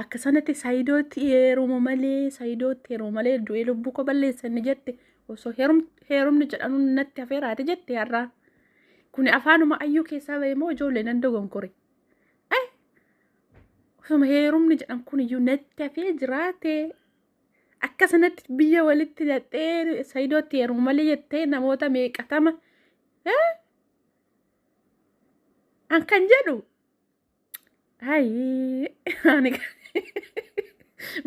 Akka sanatti saayidootti heerumu malee saayidootti heerumu malee du'ee lubbuu koo balleessanni jette osoo heerumni jedhamu natti hafeeraati jette har'aa. Kuni afaanuma ayyuu keessaa ba'e moo ijoollee nan dogonkore. Osuma heerumni jedhan kun iyyuu natti hafee jiraate akka sanatti biyya walitti hidhattee saayidootti heerumu malee jettee namoota meeqatama. An kan jedhu Ayii ani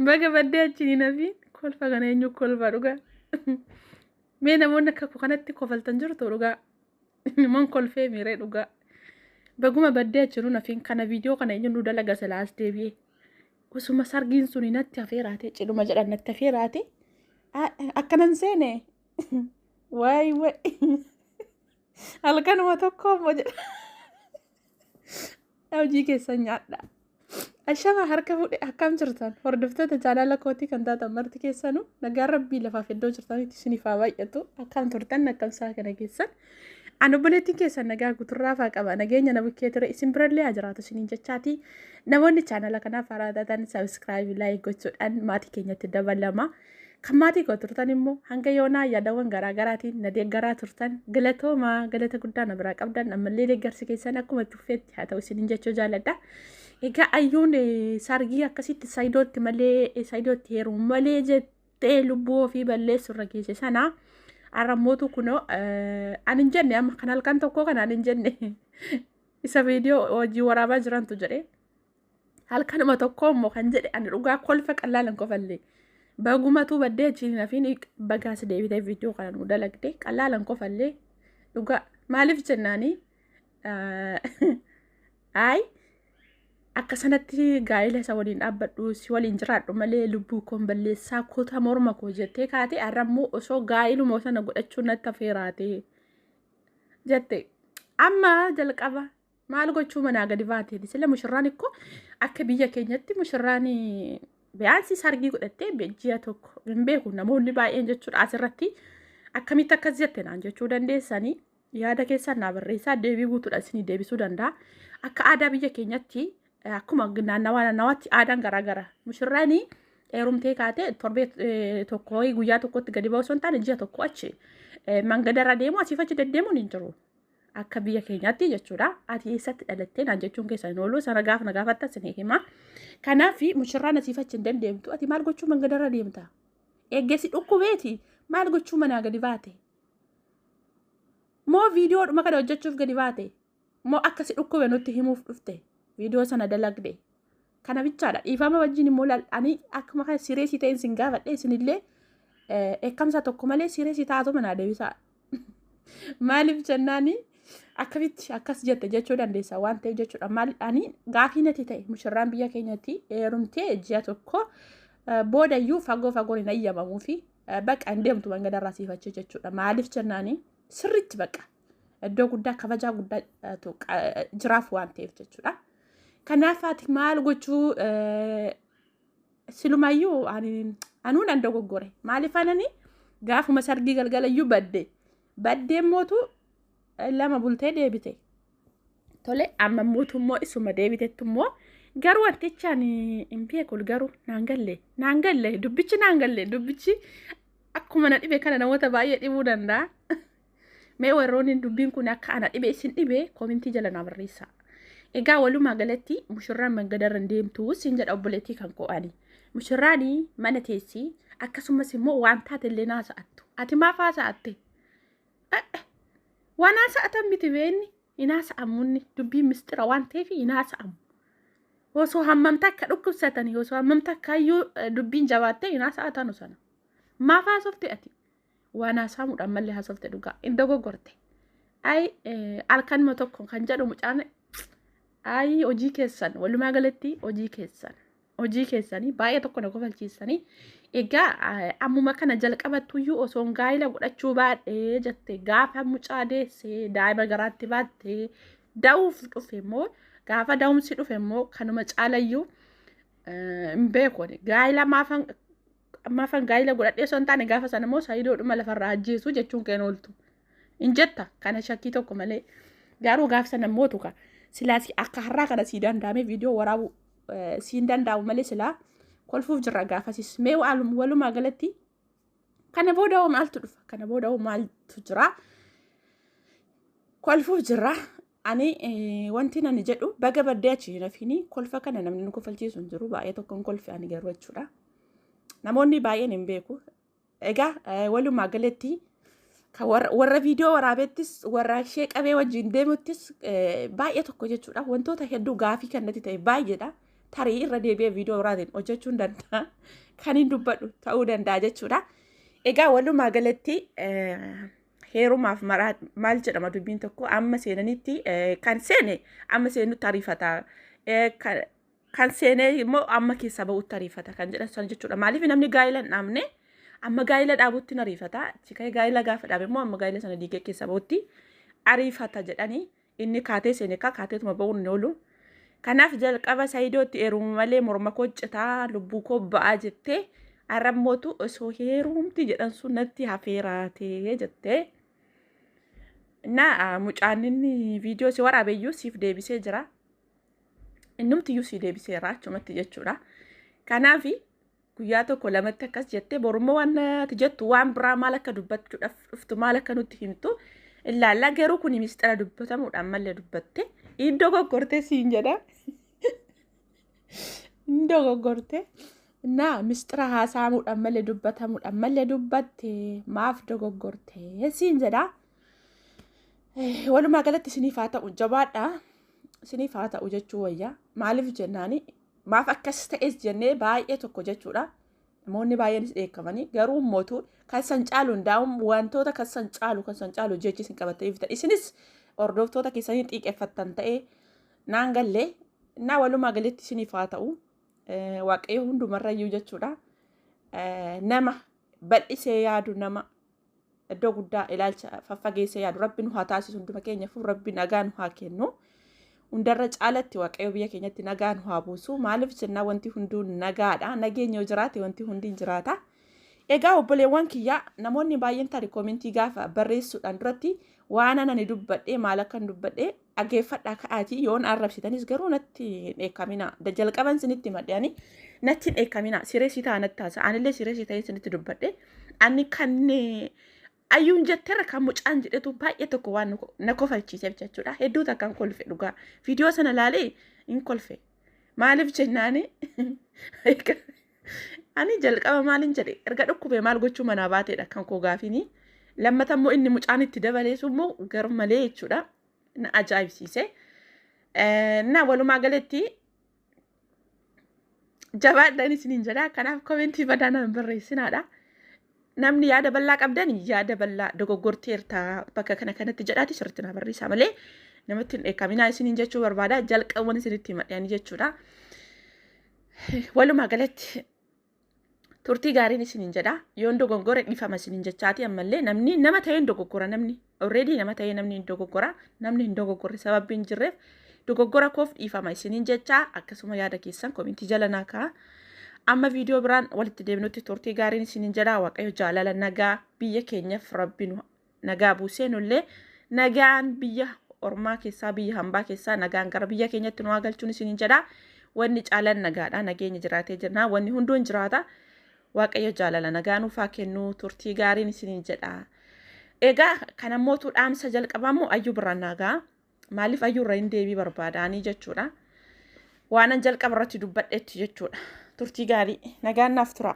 baga baddee achi hin hafiin kolfa kana eenyu kolfa dhugaa. Mee namoonni akka koo kanatti kofaltan jirtu dhugaa. Man kolfee miiree dhugaa. Baguma baddee achi hin hafiin kana viidiyoo kana eenyu nu dalaga silaa as deebi'ee. Osuma sargiin suni natti hafeeraate cidhuma jedhan natti hafeeraate. Akkanan seene waay waay halkanuma tokko immoo jedha. Hojii keessan nyaadha. Ashama harka fuudhe akkam jirtan hordoftoota jaalala kootii kan taatan marti keessanuu nagaan rabbii lafaaf iddoo jirtanitti isiniif haa baay'atu akkam turtan akkam isaa kana keessan. An obboleettiin keessan nagaa guuturraa faa qaba nageenya na bukkee ture isin birallee haa jiraatu isiniin jechaati. Namoonni chaanala kanaaf haaraa taatan sabiskiraayibii laayik gochuudhaan maatii keenyatti dabalama. Kan maatii koo turtan immoo hanga yoonaa yaadawwan garaa garaatiin na deeggaraa turtan galatoomaa galata guddaa na biraa qabdan ammallee deeggarsi keessan akkuma itti fufeetti haa ta'u isinin jechuu jaalladha. Egaa ayyuun eh, sargii akkasitti saayidootti malee eh, saayidootti heerumu malee jettee lubbuu ofii balleessu irra geesse sana har'a mootu kunoo eh, ani hin jenne amma kan halkan tokkoo kana ani hin jenne isa viidiyoo hojii waraabaa jirantu jedhee. halkanuma tokko immoo kan jedhe ani dhugaa kolfa qallaalan kofallee bagumatuu baddee achiin nafiin bagaas deebitee viidiyoo kana nu dalagde qallaalan kofallee dhugaa maaliif jennaanii ayi akka sanatti gaa'ila isa waliin dhaabbadhu si waliin jiraadhu malee lubbuu koon balleessaa kuta morma koo jettee kaatee har'a immoo osoo gaa'iluma sana godhachuu natti affeeraatee jette amma jalqaba Maal gochuu manaa gadi baatee sila mushurraan ikkoo akka biyya keenyatti mushurraan biyyaansi sargii godhattee ji'a tokko hin beeku namoonni baay'een jechuudha asirratti akkamitti akkas jette naan jechuu dandeessanii yaada keessan naa barreessaa deebii guutuudhaan isinii deebisuu danda'a. Akka aadaa biyya keenyatti akkuma naannawaa naannawaatti aadaan garaagara mushurraan heerumtee kaatee torbee tokko guyyaa tokkotti gadi ba'u osoo hin taane ji'a tokko achi mangadarra deemu asiif achi deddeemuun hin jiru. akka biyya keenyaatti jechuudha. Ati eessatti dhalattee naan jechuun keessa hin oolu. Sana gaafa na gaafatta sin hima. Kanaaf mushirraan asiif achi hin dandeemtu. Ati maal gochuu mangadarra deemta? Eeggeessi dhukkubeeti maal gochuu manaa gadi baate? Moo viidiyoodhuma kana hojjechuuf gadi baate? Moo akkasi dhukkube nutti himuuf dhufte? Viidiyoo sana dalagde. Kana bichaadha. Dhiifama wajjin immoo lal'anii akkuma kana siree si ta'een sin gaafadhe isinillee eekkamsa tokko malee siree si taatu manaa deebisaa. Maaliif jennaani akkamitti akkas jette jechuu dandeessa waan ta'eef jechuudha. Maaliidhaani gaafii natti ta'e mushirraan biyya keenyatti heerumtee ji'a tokko boodayyuu fagoo fagoon hin ayyamamuu fi baqa hin deemtu mangadarraa siifachi jechuudha. Maaliif jennaani sirriitti baqa. Iddoo guddaa kabajaa guddaatu jiraaf waan ta'eef jechuudha. Kanaaf ati maal gochuu silumayyuu anuu nan dogoggore maaliif anani gaafuma sargii galgalayyuu badde baddeen mootu lama bultee deebite tole amma mootu immoo isuma deebitetti immoo garuu wantichaan hin beekul garuu naan galle naan galle dubbichi naan galle dubbichi akkuma na dhibe kana namoota baay'ee dhibuu danda'a. Mee warroonni dubbiin kun akka ana dhibe isin dhibe koomintii jala naa barreessaa. Egaa walumaa galatti mushurraan mangadarra hin deemtu siin jedha obboleettii kan koo ani. Mushurraan mana teessi akkasumas immoo waan taate illee naa sa'attu. Ati maaf haasa'atte? Waan haasa'atan miti beenni hin haasa'amunni dubbiin mistira waan ta'eef hin haasa'amu. Osoo hammamta akka dhukkubsatanii osoo hammamta akka hayyuu dubbiin jabaattee hin haasa'atanu sana. Maaf haasofte ati? waan haasaamuudha ammallee haasofte dhugaa hin dogoggorte ayi halkanuma tokko kan jedhu mucaan ayi hojii keessan walumaa galatti hojii keessan hojii keessanii baay'ee tokko na kofalchiisanii egaa ammuma kana jalqabattuyyuu osoon gaa'ila godhachuu baadhee jette gaafa mucaa deessee daa'ima garaatti baattee da'uuf dhufe immoo gaafa da'umsi dhufe immoo kanuma caalayyuu hin beekone gaa'ila maafan Ammaafan gaa'ila godhadhee osoo hin taane gaafa sana immoo saayidoodhuma lafarraa ajjeesu jechuun keen ooltu. Hin jetta kana shakkii tokko malee. Garuu gaafa sana immoo tuka silaa si- akka har'aa kana sii danda'amee viidiyoo waraabuu eh, siin danda'amu malee silaa kolfuuf jirra gaafasis. Mee waalum- walumaa galatti kana booda hoo maaltu dhufa? Kana booda hoo maaltu jira? Kolfuuf jirra. Ani wanti nani jedhu baga baddee achi hin hafiini kolfa kana namni nu kofalchiisu hin jiru baay'ee tokkoon kolfi ani garuu jechuudha. Namoonni baay'een hin beeku. Egaa walumaa galatti warra viidiyoo waraabettis warra ishee qabee wajjin deemuttis baay'ee tokko jechuudha. Wantoota hedduu gaafii kan natti ta'e baay'eedha. Tarii irra deebi'ee viidiyoo biraatiin hojjechuun danda'a. Kan hin dubbadhu ta'uu danda'a jechuudha. Egaa walumaa galatti heerumaaf maraa maal jedhama dubbiin tokko amma seenanitti eh, kan seene amma seenutti ariifata Eh, kan- kan seenee immoo amma keessaa ba'utti ariifata kan jedhan sana jechuudha maaliif namni gaa'ila hin dhaabne amma gaa'ila dhaabutti hin ariifata achi ka'ee gaa'ila gaafa dhaabe immoo amma gaa'ila sana diigee keessaa ba'utti ariifata jedhanii Inni kaatee seene kaa kaateetuma ba'uun hin oolu. Kanaaf jalqaba Saidootti eerumu malee morma koo citaa lubbuu koo ba'aa jettee arrammootu osoo heerumti jedhan sun natti hafeeraatee jettee. Innaa mucaan inni viidiyoo si waraabeyyuu siif deebisee jira. Innumtiyyuu si deebiseera achumatti jechuudha. Kanaafi guyyaa tokko lamatti akkas jettee borummoo waan natti jettu waan biraa maal akka dubbachuudhaaf dhuftu maal akka nutti himtu ilaallaa garuu kun misxira dubbatamuudhaan malee dubbatte iddoo goggortee siin jedha iddoo goggortee naa misxira haasaamuudhaan malee dubbatamuudhaan malee dubbatte maaf dogoggortee siin jedha walumaa galatti isiniif haa ta'u jabaadha isiniif haa ta'u jechuu wayya maaliif jennaani Maaf akkas ta'es jennee baay'ee tokko jechuudha. Namoonni baay'eenis dheekkamanii garuu mootu kan san caalu hundaa'uun wantoota kan san caalu kan san caalu jechi isin qabattanii dhuftan. Isinis hordoftoota keessanii xiiqeffattan ta'ee naan galle naa walumaa galetti isiniif haa ta'u eh, waaqayyo hundumarrayyuu jechuudha. Eh, Nama bal'isee yaadu nama iddoo guddaa ilaalcha faffageessee yaadu rabbi nu haa taasisu hunduma keenyaafuu rabbi nagaa nu haa kennu. Hundarra caalatti waaqayyo biyya keenyatti nagaa nu haa buusu. Maaliif jennaa wanti hunduu nagaadha. Nageenyi yoo jiraate wanti hundi hin jiraata. Egaa obboleewwan kiyyaa namoonni baay'een tarii koomentii gaafa barreessuudhaan duratti waan ani dubbadhee maal akkan dubbadhee dhageeffadhaa ka'aatii yoon arrabsitanis garuu natti hin dheekkaminaa. Da jalqaban sinitti madde ani natti hin dheekkaminaa. Siree si ta'a natti taasa. Anillee siree si ta'ee sinitti dubbadhe. Ani kan eh, ayyuun jetterra kan mucaan jedhetu baay'ee tokko waan nu- na kofalchiise jechuudha. Hedduu takkaan kolfe dhugaa. Viidiyoo sana laalee hin kolfe. Maaliif jennaani? Ani jalqaba maalin jedhe erga dhukkubee maal gochuu manaa baateedha kan koo gaafini. Lammata immoo inni mucaan itti dabaleesu immoo gar malee jechuudha. Na ajaa'ibsiise. Na walumaa galetti jabaadhaan isiniin jedha. Kanaaf komentii badaa na hin barreessinaadha. namni yaada bal'aa qabdan yaada bal'aa dogoggorteerta bakka kana kanatti jedhaati sirriitti naa barreessaa malee namatti hin dheekkaminaa isiniin jechuu barbaada jalqabuman isinitti himadhani jechuudha. Walumaa galatti turtii gaariin isiniin jedha yoon dogongore dhifama isiniin jechaati ammallee namni nama ta'een dogoggora namni Already nama ta'ee namni hin dogoggora. Namni hin dogoggorre sababbi hin jirreef dogoggora koof dhiifama isiniin jechaa akkasuma yaada keessan komintii jala naa ka'a. Amma viidiyoo biraan walitti deebinutti turtii gaariin isiniin jedha waaqayyo jaalala nagaa biyya keenyaaf rabbi nu nagaa buusee nullee nagaan biyya ormaa keessaa biyya hambaa keessaa nagaan gara biyya keenyatti nu haa galchuun isiniin jedha. Wanni caalan nagaadha nageenya jiraatee jirna wanni hunduu hin jiraata. Waaqayyo jaalala nagaa nuuf haa kennu turtii gaariin isiniin jedha. Egaa kan ammootu dhaamsa jalqabaa immoo ayyuu birraan naagaa maaliif ayyuu irra hin deebii barbaadaanii jechuudha. Waanan jalqaba irratti dubbadhetti jechuudha. Turtii gaarii nagaan naaf tura.